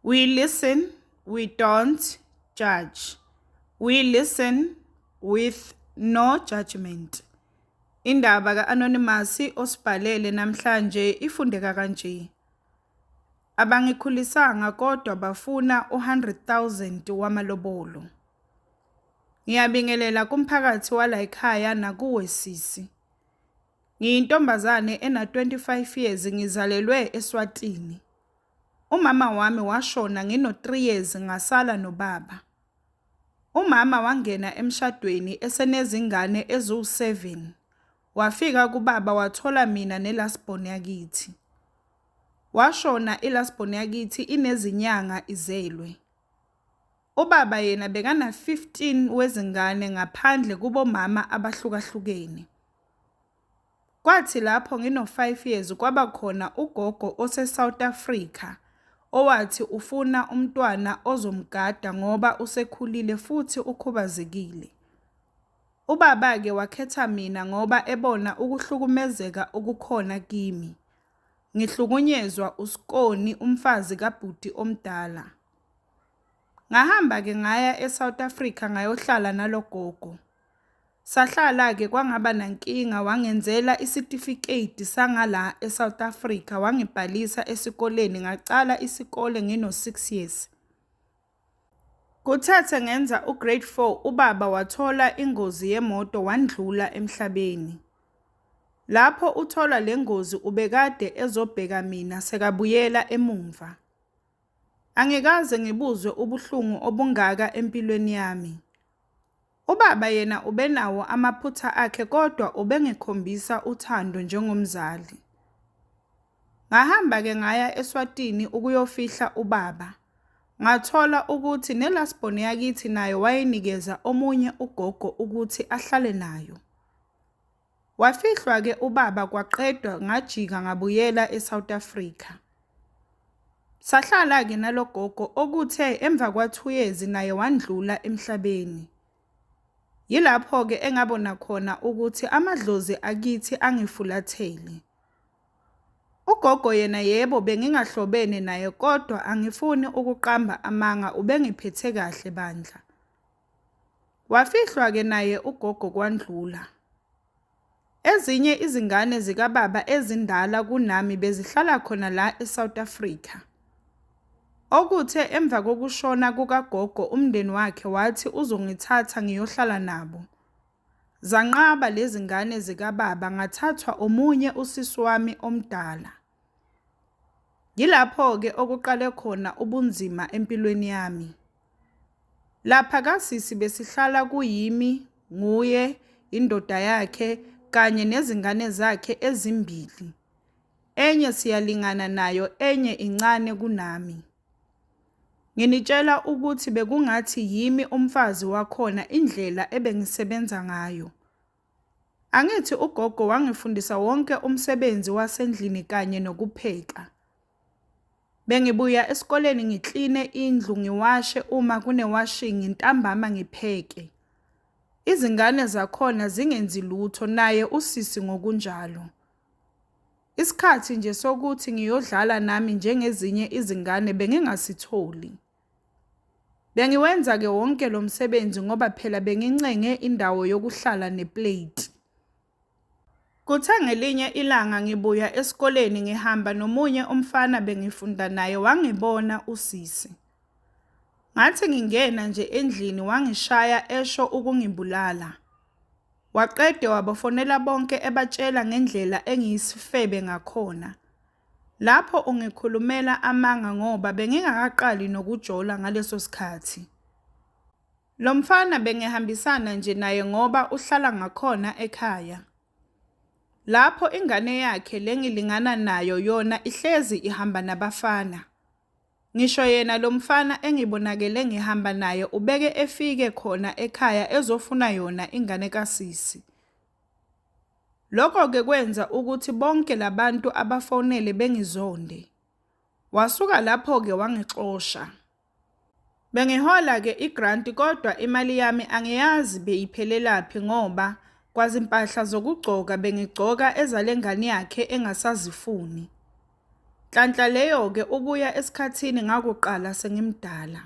We listen, we don't judge. We listen with no judgment. Indaba ka-Anonymous osibhalele namhlanje ifundeka kanje. Abangikhulisanga kodwa bafuna u-100,000 wamalobolo. Ngiyabingelela kumphakathi wala ekhaya nakuwe sisi. Ngiyintombazane ena-25 years ngizalelwe eSwatini. Umama wami washona ngino 3 years ngasala nobaba. Umama wangena emshadweni esenezingane eziwu 7. Wafika kubaba wathola mina ne last born yakithi. Washona i last born yakithi inezinyanga izelwe. Ubaba yena bekana 15 wezingane ngaphandle kubomama abahlukahlukene. Kwathi lapho ngino-five years kwaba khona ugogo ose-South Africa owathi ufuna umntwana ozomgada ngoba usekhulile futhi ukhubazekile. Ubaba-ke wakhetha mina ngoba ebona ukuhlukumezeka okukhona kimi. Ngihlukunyezwa uskoni umfazi kabhuti omdala. Ngahamba-ke ngaya e-South Africa ngayohlala nalo gogo. Sahlala ke kwangaba nankinga wangenzela isitifiketi sangala eSouth Africa wangibhalisa esikoleni ngaqala isikole ngino 6 years. Kuthathe ngenza u grade 4 ubaba wathola ingozi yemoto wandlula emhlabeni. Lapho uthola lengozi ubekade ezobheka mina sekabuyela emumva. Angikaze ngibuzwe ubuhlungu obungaka empilweni yami. Ubaba yena ubenawo amaphutha akhe kodwa ubengikhombisa uthando njengomzali. Ngahamba-ke ngaya eSwatini ukuyofihla ubaba. Ngathola ukuthi nelasbone yakithi nayo wayenikeza omunye ugogo ukuthi ahlale nayo. Wafihlwa ke ubaba kwaqedwa ngajika ngabuyela eSouth Africa. Sahlala ke nalogogo okuthe emva kwa 2 years naye wandlula emhlabeni. Yilapho ke engabona khona ukuthi amadlozi akithi angifulathele. Ugogo yena yebo bengingahlobene naye kodwa angifuni ukuqamba amanga ubengiphethe kahle bandla. Wafihlwa-ke naye ugogo kwandlula. Ezinye izingane zikababa ezindala kunami bezihlala khona la eSouth Africa. Okuthe emva kokushona kukagogo umndeni wakhe wathi uzongithatha ngiyohlala nabo. Zanqaba lezi ngane zikababa ngathathwa omunye usisi wami omdala. Yilapho-ke okuqale khona ubunzima empilweni yami. Lapha kasisi besihlala kuyimi, nguye, indoda yakhe kanye nezingane zakhe ezimbili. Enye siyalingana nayo enye incane kunami. Nginitshela ukuthi bekungathi yimi umfazi wakhona indlela ebengisebenza ngayo. Angithi ugogo wangifundisa wonke umsebenzi wasendlini kanye nokupheka. Bengibuya esikoleni ngikline indlu ngiwashe uma kunewashingi ntambama ngipheke. Izingane zakhona zingenzi lutho naye usisi ngokunjalo. Isikhathi nje sokuthi ngiyodlala nami njengezinye izingane bengingasitholi. Bengiwenza-ke wonke lo msebenzi ngoba phela bengincenge indawo yokuhlala nepleti. Kuthe ngelinye ilanga ngibuya esikoleni ngihamba nomunye umfana bengifunda naye wangibona usisi. Ngathi ngingena nje endlini wangishaya esho ukungibulala. Waqede wabafonela bonke ebatshela ngendlela engiyisifebe ngakhona. Lapho ungikhulumela amanga ngoba bengingakaqali nokujola ngaleso sikhathi. Lo mfana bengihambisana nje naye ngoba uhlala ngakhona ekhaya. Lapho ingane yakhe le ngilingana nayo yona ihlezi ihamba nabafana. Ngisho yena lo mfana engibonakele ngihamba naye ubeke efike khona ekhaya ezofuna yona ingane kasisi. Lokho-ke kwenza ukuthi bonke la bantu abafonele bengizonde. Wasuka lapho-ke wangixosha. Bengihola-ke igranti kodwa imali yami angiyazi beyiphelelaphi ngoba kwazimpahla zokugcoka bengigcoka ezale ngane yakhe engasazifuni. Nhlanhla leyo-ke ukuya esikhathini ngakuqala sengimdala.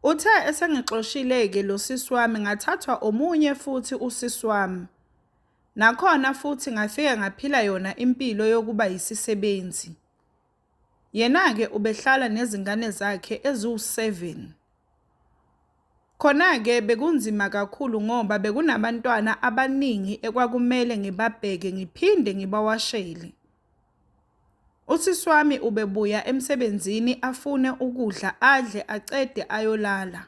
Uthe esengixoshile-ke lo sisi wami ngathathwa omunye futhi usisi wami. Nakhona futhi ngafike ngaphila yona impilo yokuba yisisebenzi. Yena-ke ubehlala nezingane zakhe eziwu-7. Khona-ke bekunzima kakhulu ngoba bekunabantwana abaningi ekwakumele ngibabheke ngiphinde ngibawashele. Usisi wami ubebuya emsebenzini afune ukudla adle acede ayolala.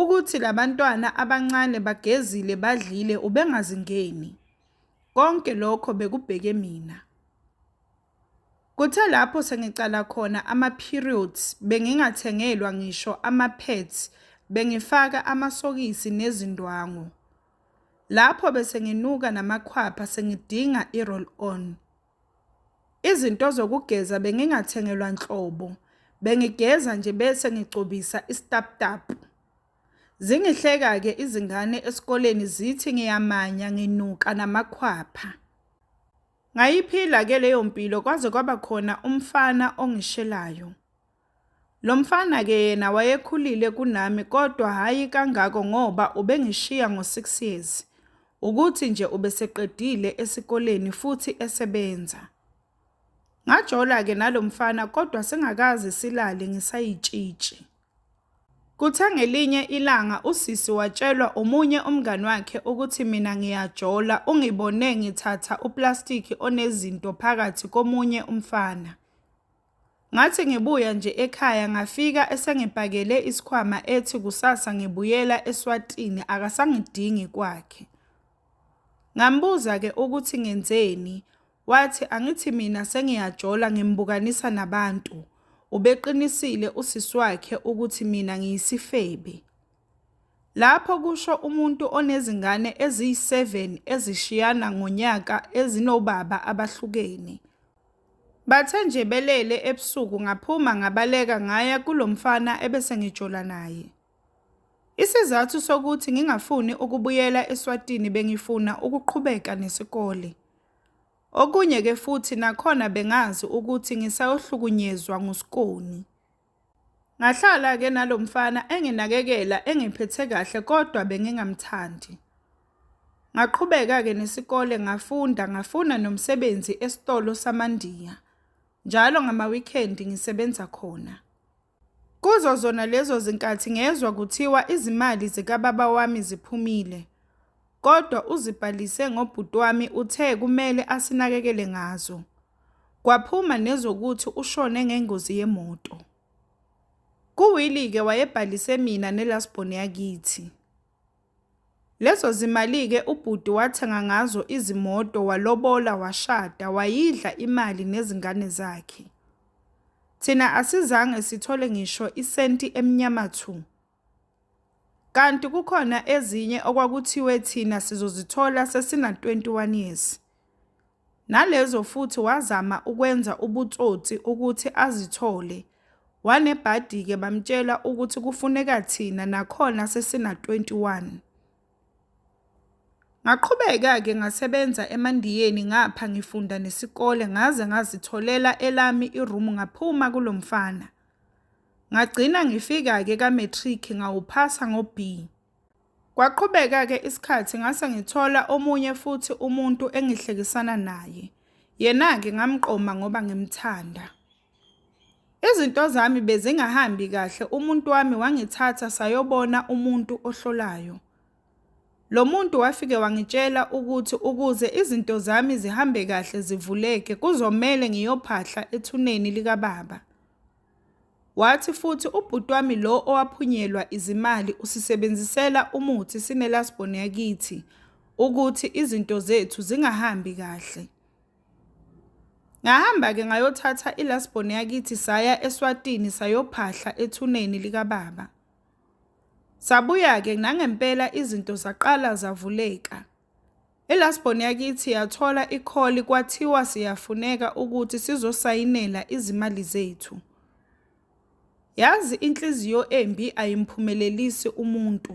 Ukuthi labantwana abancane bagezile badlile ubengazingeni. Konke lokho bekubheke mina. Kuthe lapho sengiqala khona ama-periods bengingathengelwa ngisho ama-pads, bengifaka amasokisi nezindwangu. Lapho bese nginuka namakhwapha sengidinga i-roll on. Izinto zokugeza bengingathengelwa nhlobo, bengigeza nje bese ngigcobisa isitaputapu. Zingihleka-ke izingane esikoleni zithi ngiyamanya nginuka namakhwapha. Ngayiphila ke leyo mpilo kwaze kwaba khona umfana ongishelayo. Lo mfana ke yena wayekhulile kunami kodwa hhayi kangako ngoba ubengishiya ngo-6 years, ukuthi nje ubeseqedile esikoleni futhi esebenza. Ngajola ke nalo mfana kodwa singakaze silale ngisayitshitshi. Kuthe ngelinye ilanga usisi watshelwa omunye umngani wakhe ukuthi mina ngiyajola ungibone ngithatha uplastiki onezinto phakathi komunye umfana. Ngathi ngibuya nje ekhaya ngafika esengibhakele isikhwama ethi kusasa ngibuyela eSwatini akasangidingi kwakhe. Ngambuza-ke ukuthi ngenzeni, Wathi angithi mina sengiyajola ngimbukanisa nabantu. Ubeqinisile usisi wakhe ukuthi mina ngiyisifebe. Lapho kusho umuntu onezingane eziyi-7 ezishiyana ngonyaka ezinobaba abahlukene. Bathe nje belele ebusuku ngaphuma ngabaleka ngaya kulo mfana ebese ngijola naye. Isizathu sokuthi ngingafuni ukubuyela eSwatini bengifuna ukuqhubeka nesikole. Okunye ke futhi nakhona bengazi ukuthi ngisayohlukunyezwa nguSkoni. Ngahlala ke nalo mfana enginakekela engiphethe kahle kodwa bengingamthandi. Ngaqhubeka ke nesikole ngafunda ngafuna nomsebenzi esitolo samaNdiya. Njalo ngama-weekend ngisebenza khona. Kuzo zona lezo zinkathi ngezwa kuthiwa izimali zikababa wami ziphumile, kodwa uzibhalise ngobhuti wami uthe kumele asinakekele ngazo. Kwaphuma nezokuthi ushone ngengozi yemoto. Kuwili-ke wayebhalise mina nelastborn yakithi. Lezo zimali-ke ubhuti wathenga ngazo izimoto, walobola, washada, wayidla imali nezingane zakhe. Thina asizange sithole ngisho isenti emnyama thu. Kanti kukhona ezinye okwakuthiwe thina sizozithola sesina-21 years. Nalezo futhi wazama ukwenza ubutsotsi ukuthi azithole. Wanebhadi-ke bamtshela ukuthi kufuneka thina nakhona sesina-21. Ngaqhubeka-ke ngasebenza eMandiyeni ngapha ngifunda nesikole ngaze ngazitholela elami iroom ngaphuma kulo mfana. Ngagcina ngifika-ke ka-matric ngawuphasa ngo-B. Kwaqhubeka-ke isikhathi ngase ngithola omunye futhi umuntu engihlekisana naye. Yena-ke ngamqoma ngoba ngimthanda. Izinto zami bezingahambi kahle umuntu wami wangithatha sayobona umuntu ohlolayo. Lo muntu wafike wangitshela ukuthi ukuze izinto zami zihambe kahle zivuleke kuzomele ngiyophahla ethuneni likababa. Wathi futhi ubhuti wami lo owaphunyelwa izimali usisebenzisela umuthi sineLast Born yakithi ukuthi izinto zethu zingahambi kahle. Ngahamba-ke ngayothatha iLast Born yakithi saya eSwatini sayophahla ethuneni likababa. Sabuya-ke nangempela izinto zaqala zavuleka. Ilasbon yakithi yathola ikholi kwathiwa siyafuneka ukuthi sizosayinela izimali zethu. Yazi inhliziyo embi ayimphumelelisi umuntu.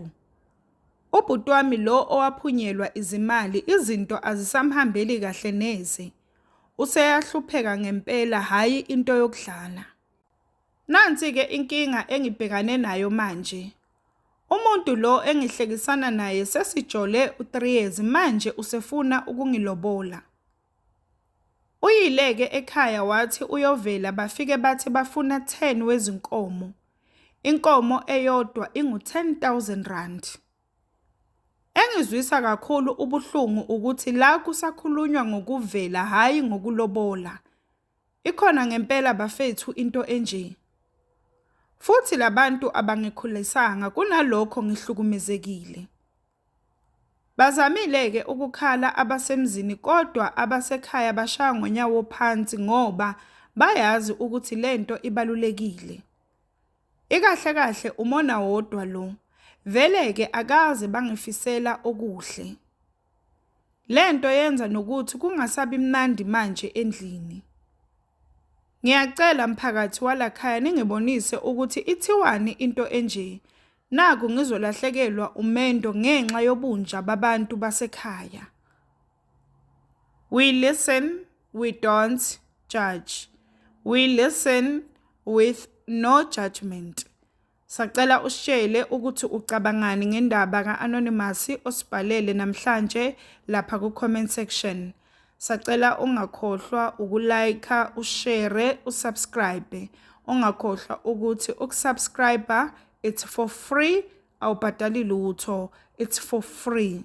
Ubhuti wami lo owaphunyelwa izimali izinto azisamhambeli kahle neze. Useyahlupheka ngempela hhayi into yokudlala. Nansi-ke inkinga engibhekane nayo manje. Umuntu lo engihlekisana naye sesijole u-3 years manje usefuna ukungilobola. Uyileke ekhaya wathi uyovela bafike bathi bafuna 10 wezinkomo. Inkomo eyodwa ingu-10000 rand. Engizwisa kakhulu ubuhlungu ukuthi la kusakhulunywa ngokuvela hhayi ngokulobola. Ikhona ngempela bafethu into enje. Futhi labantu abangikhulisanga kunalokho ngihlukumezekile. Bazamile ke ukukhala abasemzini kodwa abasekhaya bashaya ngonyawo phansi ngoba bayazi ukuthi lento ibalulekile. Ikahle kahle umona wodwa lo. Vele ke akaze bangifisela okuhle. Le nto yenza nokuthi kungasabi mnandi manje endlini. Ngiyacela mphakathi walakhaya ningibonise ukuthi ithiwani into enje. Naku ngizolahlekelwa umendo ngenxa yobunja babantu basekhaya. We listen, we don't judge. We listen with no judgment. Sacela usitshele ukuthi ucabangani ngendaba ka-Anonymous osibhalele namhlanje lapha ku-comment section. Sacela ungakhohlwa ukulayikha, ushere, usubscribe. Ungakhohlwa ukuthi ukusubscriber it's for free, awubhadali lutho, it's for free.